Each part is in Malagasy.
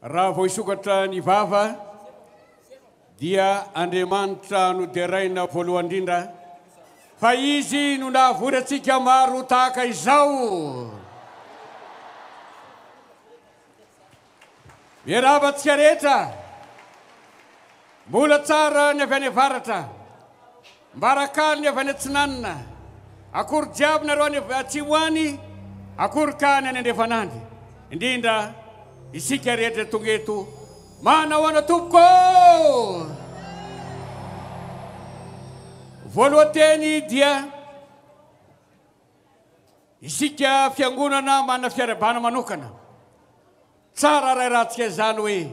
Raha vao hisokatra ny vava dia Andriamanitra no deraina voalohany indrindra fa Izy no nahavory antsika maro ho tahaka izao. Miarahaba antsika rehetra mbola tsara ny avy any avaratra. Mbarakalony avy any atsinanina, akory jiaby nareo any atsimo any, akory ka any any andrefanandry, indrindra isika rehetra tonga eto, manahoana tompoko ô! Voalohateny dia isika fiangonana manana fiarahabana manokana, tsara arahirantsika izany hoe,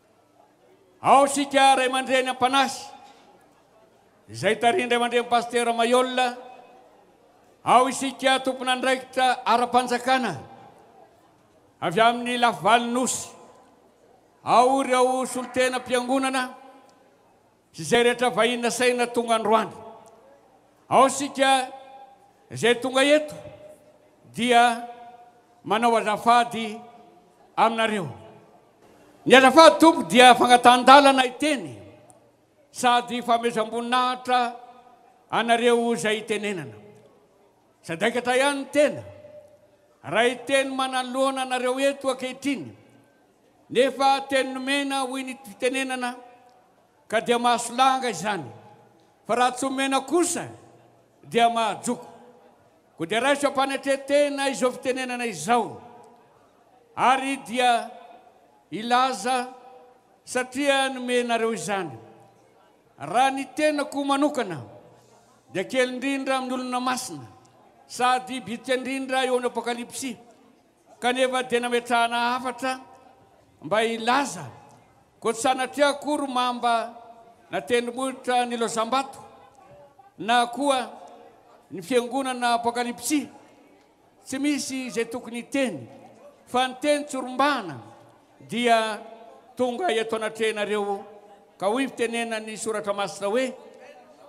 Ao isika ray aman-dreny Ampanasy izay tarihin-dRay aman-dReny Pasitera Maiola, ao isika tompon'andraikitra ara-panjakana avy amin'ny lafy valin'ny Nosy, ao ireo solontenam-piangonana, sy izay rehetra vahiny nasaina tonga androany. Ao isika izay tonga eto dia manao azafady aminareo. Ny azafady Tompo dia fagnatahan-dalana hiteny sady fanomezam-boninahitra anareo izay hitenenana. Sadaikatra ihany ny tena raha hiteny manoloana anareo eto ankehitriny. Nefa teny nomena hoy ny fitenenana ka dia mahasolanga izany fa raha tsy omena kosa dia mahajoko. Koa dia raiso am-panetren-tena izao fitenenana izao ary dia ilaza satria nomenareo izany. Raha ny tenako manokana dia kely indrindra amin'ny olona masina sady bitika indrindra eo amin'ny apokalypsy Kanefa dia nametrahana hafatra mba hilaza koa tsy sanatria akory mamba na tendrombohitra nilozam-bato na koa ny fiangonana apokalipsy. Tsy misy izay tokony hiteny fa ny teny tsorombahana dia tonga eto anatrehanareo ka hoy fitenena ny soratra masina hoe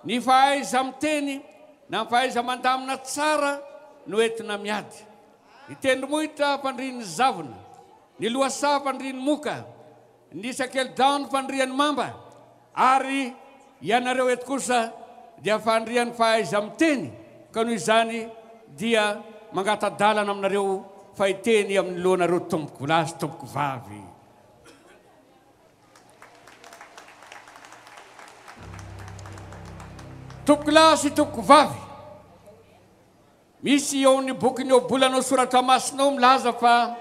ny fahaiza-miteny na ny fahaiza-mandamina tsara no entina miady. Ny tendrombohitra fandrian'ny zavona, ny lohasaha fandrian'ny moka, ny sakelidaony fandrian'ny mamba, ary ianareo eto kosa dia fandrian'ny fahaiza-miteny, ka noho izany dia mangata-dalana aminareo fa hiteny amin'ny lohanareo tompoko lahy sy tompoko vavy. Tompoko lahy sy tompoko vavy, Misy eo amin'ny bokin'ny Ohabolana ao Soratra Masina ao milaza fa,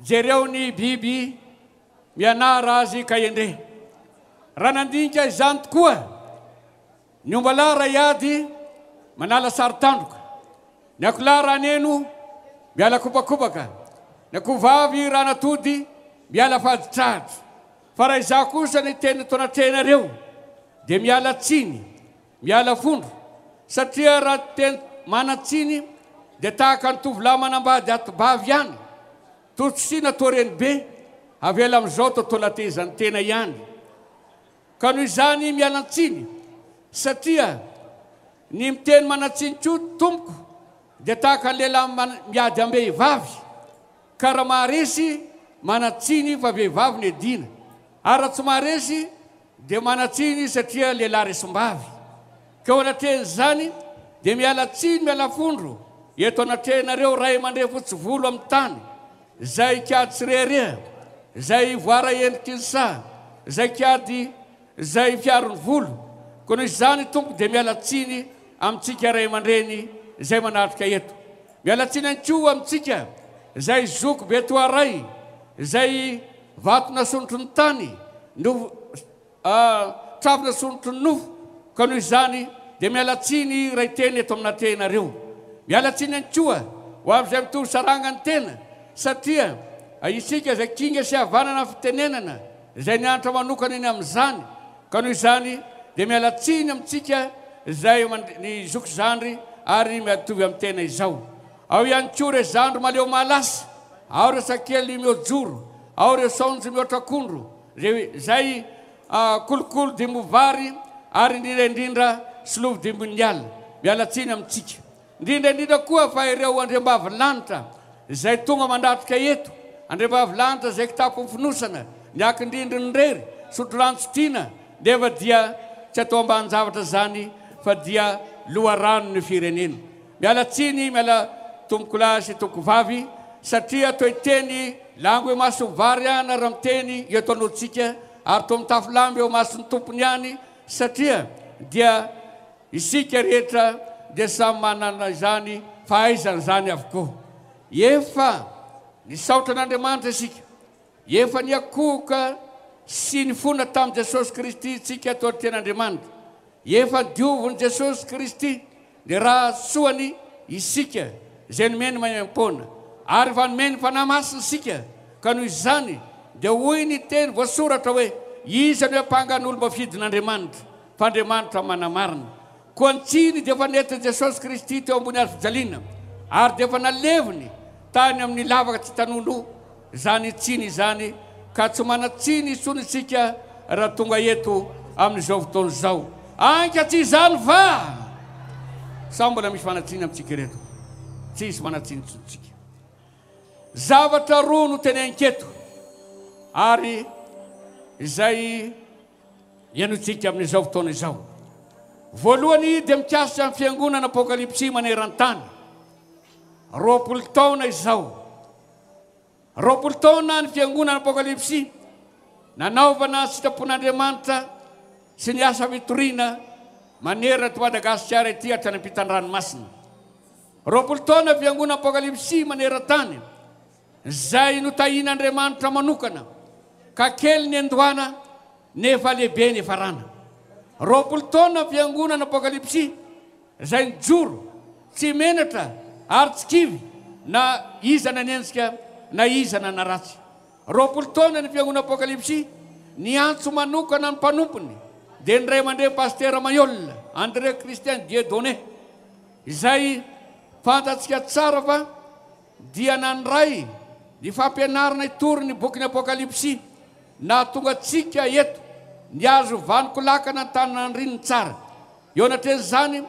Jereo ny biby, mianara azy ka endrey. Raha nandinika izany tokoa ny ombalahy iray ady manala sary tandroka, ny akoholahy raha neno miala kobakobaka, ny akohovavy raha natody miala faditrahatra, fa raha izaho kosa ny teny nataon'Atrehinareo dia miala tsiny, Miala fondro, satria raha tena manan-tsiny dia tahaka ny tovolahy manambady ati-bavy ihany, toa tsy sina toa renibe, avela amin'izao toa tolatezan'ny tena ihany. Ka noho izany mialan-tsiny, satria ny miteny manan-tsiny koa tompoko dia tahaka ny lehilahy miady am-behivavy, ka raha maharesy manan-tsiny fa vehivavy no edina, ary raha tsy maharesy Dia manan-tsiny izy satria lehilahy resim-bavy. Ka eo anatrehan'izany, dia miala tsiny miala fondro eto anatrehanareo ray aman-drefo tsy volo amin'ny tany, izay kiady tsy rehareha, izay voara endriky ny saha, izay kiady izay fiaro ny volo. Koa noho izany, Tompo dia miala tsiny amintsika ray aman-dreny izay manatrika eto. Miala tsiny ihany koa amintsika izay zoky be toa ray izay vato nasontro ny tany no trafo nasontro ny nofo ka noho izany dia miala tsiny ray tena eto amina tehinareo. Miala tsiny ihany koa ho amin'izay mitovy saranga ny tena satria isika izay kinga sy havanana fitenenana izay nianatra manokana eny amin'izany Ka noho izany dia miala tsiny amintsika izay eo aman ny zoky zandry ary miatovy amin'ny tena izao. Ao ihany koa ireo zandry maleo mahalasa, ao ireo sakely miojoro, ao ireo saonjo mihoatra akondro, izay izay kolokolo dimbo vary ary indrindra indrindra solovo dimbon'ny ala. Miala tsiny amintsika. Indrindra indrindra koa fa ireo andriambavilanitra izay tonga mandatrika eto, andriambavilanitra izay kitapon'ny fonosana, ny akin-drindrin'ny rery, sotroranontsitriana, nefa dia tsy atao ambanin-javatra izany fa dia loharanon'ny firenena. Miala tsiny, miala tompokolahy sy tompokovavy, satria toy teny lango imason'ny vary aho na ramiteny eto anontsika ary toa mitafo lamba eo imason'ny tompony ihany, satria dia. Isika rehetra dia samy manana izany fahaizana izany avokoa. Efa nisaotra an'Andriamanitra isika. Efa niakohoka sy nifona tamin'i Jesosy Kristy isika tao an-tenan'Andriamanitra. Efa diovin'i Jesosy Kristy ny ra soany isika izay nomeny maimaim-poana. Ary efa nomeny Fanahy Masina isika, ka noho izany dia hoy ny teny voasoratra hoe, Iza no hiampanga ny olom-bafidin'Andriamanitra? f'Andriamanitra manamarina. Koa ny tsiny dia efa nentin'i Jesosy Kristy teo ambony hazojaliana, ary dia efa naleviny tany amin'ny lavaka tsy tanon'o izany tsiny izany, ka tsy manan-tsiny intsony isika raha tonga eto amin'izao fotoana izao. Ainka tsy izany va? Sa mbola misy manan-tsiny amintsika ireto? Tsy hisy manan-tsiny intsony isika. Zavatra roa no teneniko eto, ary izay. Hihainoantsika amin'izao fotoana izao. Voalohany dia mikasika ny fiangonana Apokalipsy maneran-tany. Roapolo taona izao. Roapolo taona ny fiangonana Apokalipsy nanaovana sitrapon'Andriamanitra sy ny asa fitoriana manerana eto Madagasikara ity hatrany am-pitandranomasina. Roapolo taona fiangonana Apokalipsy maneran-tany. Izay notahian'Andriamanitra manokana ka kely niandohana nefa lehibe niafarana. Roapolo taona ny fiangonana Apokalypsy izay nijoro tsy menatra ary tsy kivy na iza nanenjika na iza nanaratsy. Roapolo taona ny fiangonana Apokalypsy niantso manokana ny mpanompony dia ny Ray aman-dReny Pasitera Mayol André Christian Dieudonné izay fantatsika tsara fa dia nandray ny fampianarana hitory ny bokin'ny Apokalypsy nahatonga antsika eto, nihazo vanon-kolakana an-taninandrininy tsara. Eo anatrehan'izany,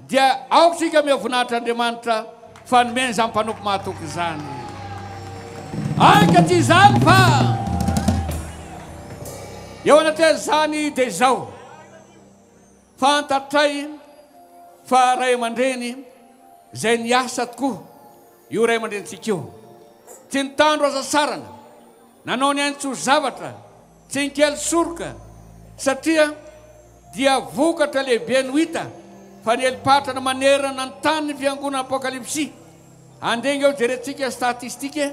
dia aoka isika miha voninahitra Andriamanitra fa nomeny izany mpanompo mahatoky izany. Aika tsy izany fa eo anatrehan'izany dia izao. Fantatray fa ray aman-dreny izay niasa tokoa io ray aman-drenintsika io. Tsy nitandro aza saranga, nanao ny ainy tsy ho zavatra, tsy nikely soroka satria dia vokatra lehibe no hita fa nieli-patrana manerana ny tany ny fiangonana Apokalipsy. Handrenge eo jerentsika statistique,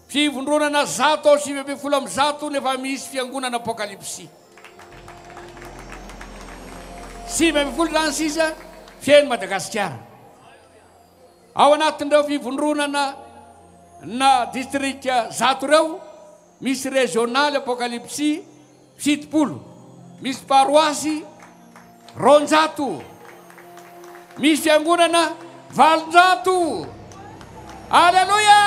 fivondronana zato ao sivy ambin'ny folo amin'ny zato no efa misy fiangonana Apokalipsy. Sivy ambin'ny folo izany sisa feno Madagasikara. Ao anatin'ireo fivondronana na distrika zato ireo, misy régional apocalypsy fitopolo, misy paroasy Roanjato. Misy fiangonana valonjato. Aleloia!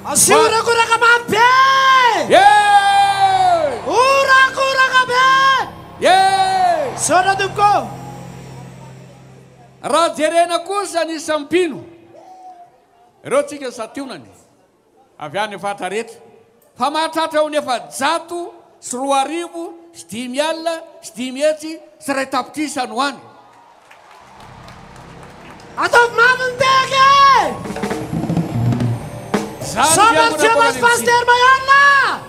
Asio orakoraka mafy be! Yeah! Orakoraka be! Yeah! Misaotra tompoko! Raha jerena kosa ny isan'ny mpino, ireo tsika santionany. avy any Faritra rehetra fa mahatratra ho ny efajato sy roa arivo sy dimy alina sy dimy hetsy sy iray tapitrisa no any. Ataovy mafy ny tehaka e! Zandry Fiangonan'i Paoly Aleksina.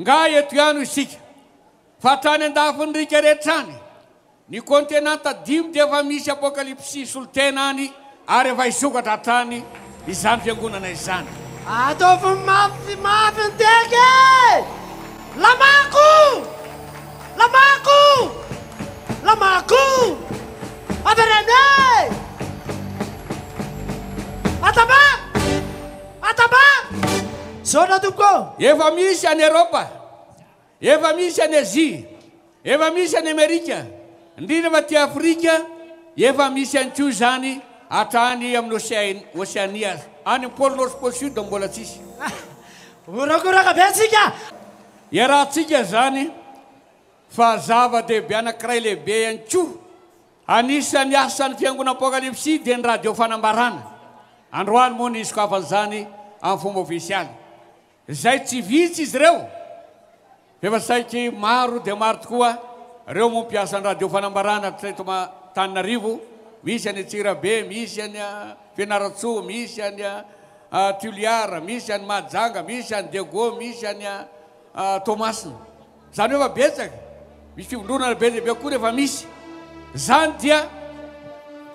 Nga eto ihany isika fa hatrany andafin'ny riaka rehetra any, ny kontenanta dimy dia efa misy apokalipsy solontena any ary efa hisokatra hatrany izany fiangonana izany. Ataovy mafy mafy ny tehaka e! Lamako! Lamako! Lamako! Avereno e! Atamba! Atambaro! Misaotra tompoko ô! Efa misy any Eropa, efa misy any Azia, efa misy any Amerika, indrindra fa aty Afrika, efa misy ihany koa izany hatrany amin'ny Océan, Oceanie aza. Any amin'ny Pôle Nord sy Pôle Sud mbola tsisy. Horakoraka be antsika! Iarahantsika izany fa zava-dehibe anankiray lehibe ihany koa. Anisan'ny asan'ny Fiangonana Apokalypsy dia ny Radio Fanambarana. Androany moa no hisokafan'izany amin'ny fomba ofisialy. Izay tsy vitsy izy ireo, f'efa saiky maro dia maro tokoa ireo moa mpiasa ny Radio Fanambarana hatreto Antananarivo, misy any Antsirabe, misy any Fianarantsoa, misy any Toliara, misy any Mahajanga, misy any Diego, misy any Toamasina. Zany hoe efa betsaka, misy fivondronana be dia be koa rehefa misy zany dia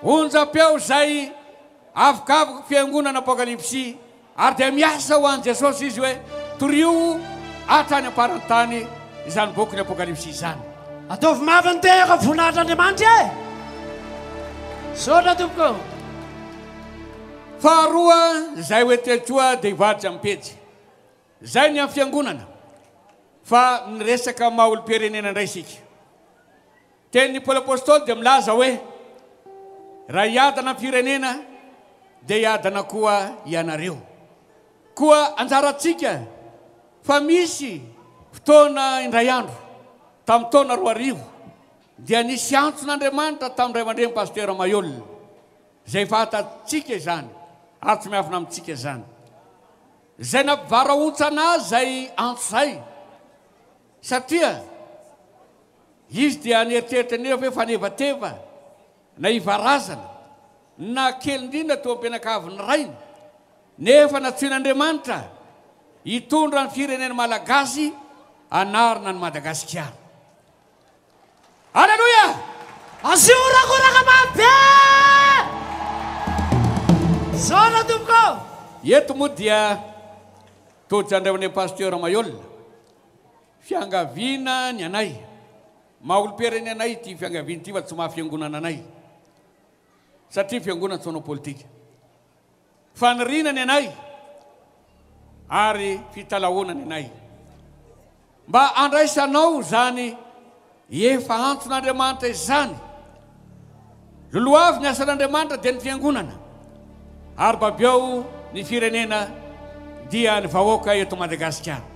onjam-peo izay avokavoky fiangonana apokalypsy ary dia miasa ho an'i Jesosy izy hoe torio hatrany am-paran'ny tany izany boky ny apokalypsy izany. Ataovy mafy ny tenako amin'ny voninahitr'Andriamanitra e! Misaotra tompoko o! Faharoa, izay hoe telo koa dia hivadika amin'ny pejy. Izay ny an'ny fiangonana fa miresaka maha olom-pirenena indray isika. Tenin'i Paoly Apostoly dia milaza hoe, Raha hiadana am-pirenena dia hiadana koa ianareo. Koa anjarantsika fa misy fotoana indray andro, tamin'ny taona roa arivo, dia nisy antson' Andriamanitra tamin'ny Ray aman-dReny Pasitera Mayolle, izay fantatsika izany ary tsy miafina amintsika izany. Izay nampivarahontsana azy izay antso izay, satria izy dia nieritreritra anefa hoe fanevateva na ivarazana no nahakely indrindra teo am-pianakavin'ny rainy, nefa nantsoin'Andriamanitra hitondra ny firenena malagasy hanarina an'i Madagasikara. Aleloia! Azio horakoraka mamy be! Misaona tompoko! Eto moa dia tojo andrahonay Pasteur Maiola. Fiangaviana ny anay. Maha olom-pirenena anay ity fiangaviana ity fa tsy maha fiangonana anay. Satria fiangonana tsy manao politika. Faniriana ny anay ary fitalahoana ny anay mba handraisanao izany efa antson'Andriamanitra izany. Lolohavy ny asan'Andriamanitra dia ny fiangonana ary babeo ny firenena dia ny vahoaka eto Madagasikara.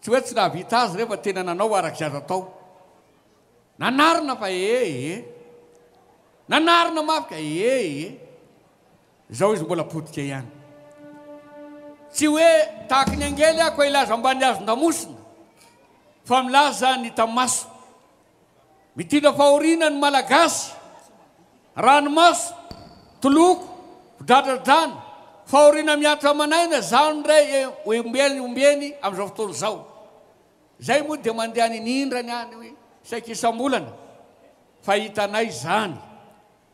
Tsy hoe tsy nahavita azy re fa tena nanao araka izay azo atao. Nanarina fa ee ee. Nanarina mafy ka ee ee. Izao izy mbola potika ihany. Tsy hoe tahaky ny angely aho ka hilaza ambany hazon-damosina fa milaza ny tamaso. Mitondra fahoriana ny Malagasy. Ranomaso, toloko, fidradradràna, fahoriana mihatra aman'aina zao ndray e ombeny ombeny amin'izao fotoana izao. Izay moa dia mandeha any inindrany any saika isam-bolana fa hitanay izany.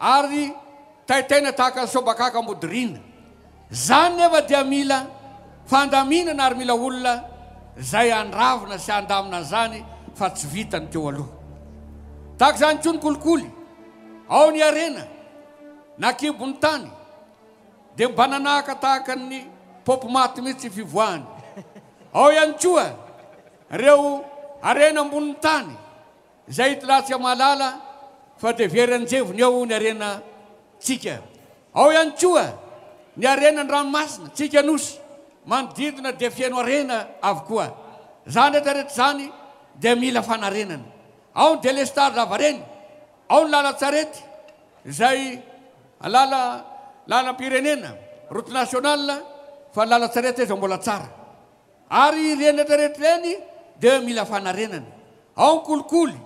ary taitaina tahaka ny sobakaka modirina. Izany nefa dia mila fandaminana ary mila olona izay handravona sy handamina an'izany fa tsy vita ny teo aloha. Tahaka izany koa ny kolikoly, ao ny harena na kibon'ny tany dia mba nanahaka tahaka ny paopy maty mihitsy ny fivoahany. Ao ihany koa ireo harena ambonin'ny tany Izay tla tsy mahalala fa dia very anjevony ao ny harena tsika. Ao ihany koa ny harena ny ranomasina tsika nosy manodidina dia feno harena avokoa. Izany rehetra rehetra izany dia mila fanarenana. Ao ny delestage lavareny, ao ny lalan-tsarety izay lala lalam-pirenena, route nationale, fa ny lalan-tsarety aza mbola tsara. Ary ireny rehetrarehetra ireny dia mila fanarenana. Ao ny kolikoly,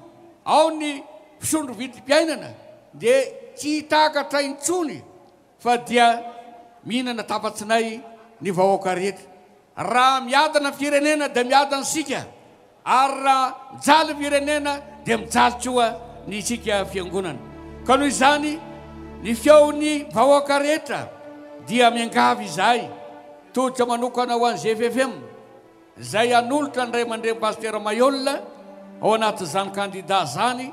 ao ny fisondro vidim-piainana dia tsy hitakatra intsony fa dia mihinana tapa-tsinay ny vahoaka rehetra. Raha miadana ny firenena dia miadana isika. Ary raha mijaly ny firenena dia mijaly koa ny isika fiangonana. Ka noho izany, ny feon'ny vahoaka rehetra dia miangavy izahay, tolotra manokana ho an'ny GFFM, izay hanolotra ny Ray aman-dReny Pasitera Mayolle ao anatin'izany kandida izany,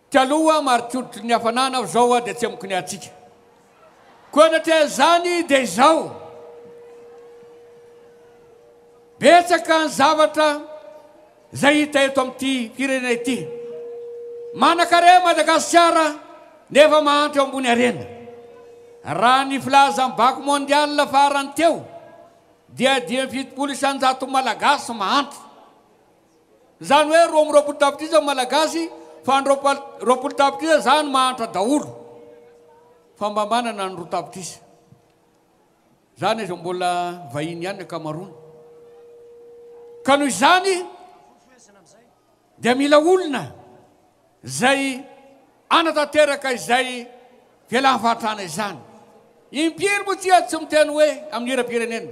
Taloha marikotry ny hafanana aho zao dia tsy amiko ny hatsiaka ko anatreha izany dia izao betsaka ny zavatra izay hita eto amin'ity firenena ity manakarena Madagasikara nefa mahantra eo ambony harena raha ny filazan'ny bako mondial farany teo dia dimy amby fitopolo isanjato malagasy mahantra Zany hoe roa amby roapolo tapitrisa malagasy fa ny roapolo tapitrisa zany mahantra daholo fa mba manana ny roa tapitrisa zany aza mbola vahiny ihany ny akamaroany ka noho izany dia mila olona zay anatanteraka izay fialan fahatrana izany impiry moa tsy tsy miteny hoe amin'ny hiram-pirenena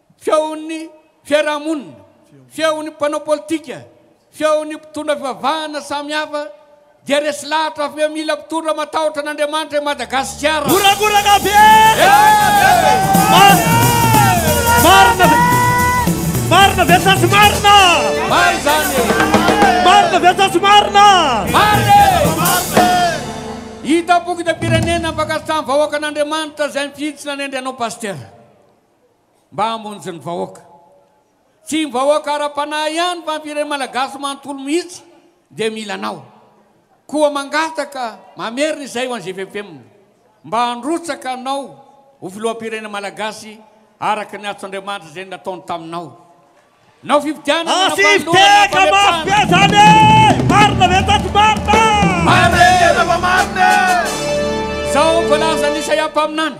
feon'ny fiarahamonina, feon'ny mpanao politika, feon'ny mpitondra fivavahana samihafa dia resy lahatra avy eo mila mpitondra matahotra an'Andriamanitra i Madagasikara. Goragorana avy eo! Marina ve? Marina ve sa tsy marina? Marina izany e! Marina ve sa tsy marina? Marina e! Hita am-pokotam-pirenena ny fankasitrahan'ny vahoaka an'Andriamanitra izay mifintsina nendry anao Pasitera. mba hamonjy ny vahoaka. Tsy ny vahoaka ara-panahy ihany fa ny firenena malagasy manontolo mihitsy dia mila anao. Koa mangataka mamerina izay ho an'i GVFM mba handrotsaka anao ho filoham-pirenena malagasy araka ny antso Andriamanitra izay nataony taminao. Nao fifidianana na fanolorana na fametsahana. Izao voalazan'i Isaia mpaminany.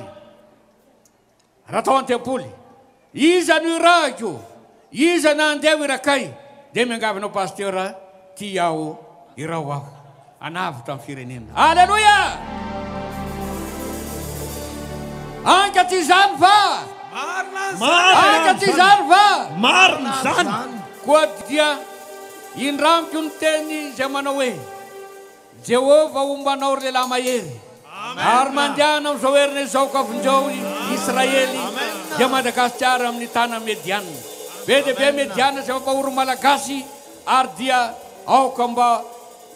Raha tao an-tempoly, iza no irahiko, iza na andeha ho irakay, dia miangavy anao Pasteur a, tia aho, iraho aho hanavotra ny firenena. Aleloia! Anka tsy izany va? Marina izany! Anka tsy izany va? Marina izany! Koa dia indramiko ny teny izay manao hoe. Jehovah homba anao ry lehilahy mahery, ary mandehana amin'izao herina izao ka vonjeo i Israely dia Madagasikara amin'ny tanan'ny Mediana. Be dia be Mediana izay mampahory ny Malagasy ary dia aoka mba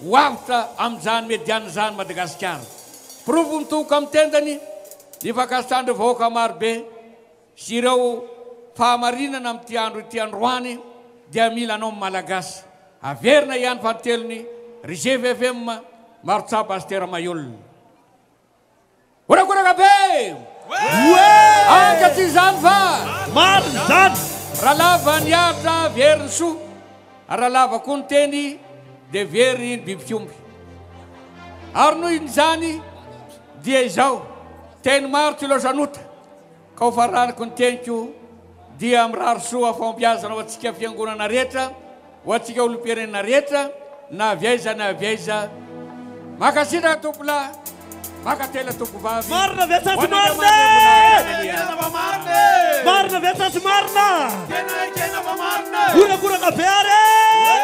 ho avotra amin'izany Mediana izany Madagasikara. Porofo mitohoka amin'ny tendany ny fankasitrahan'ireo vahoaka marobe. Sy ireo fahamarinana amin'ity andro ity androany dia mila anao Malagasy. Averina ihany fa telony ry GVFM Marotsapa Astera Mahiolona. Horakoraka be! Anka tsy izany fa. Marina izany! Raha lava ny ahitra very ny soa, raha lava koa ny teny dia very ny bibik'omby. Ary noho izany dia izao, teny maro tsy loatra nota. Ka ho faraniko ny teniko dia mirary soa fahombiazana ho antsika fiangonana rehetra, ho antsika olom-pirenena rehetra na avy aiza na avy aiza. Mankasitraka tompolahy, mankatelina tompovavy. Marina ve sa tsy marina e? Marina ve sa tsy marina? Tena ekena fa marina e! Horakoraka be ary e!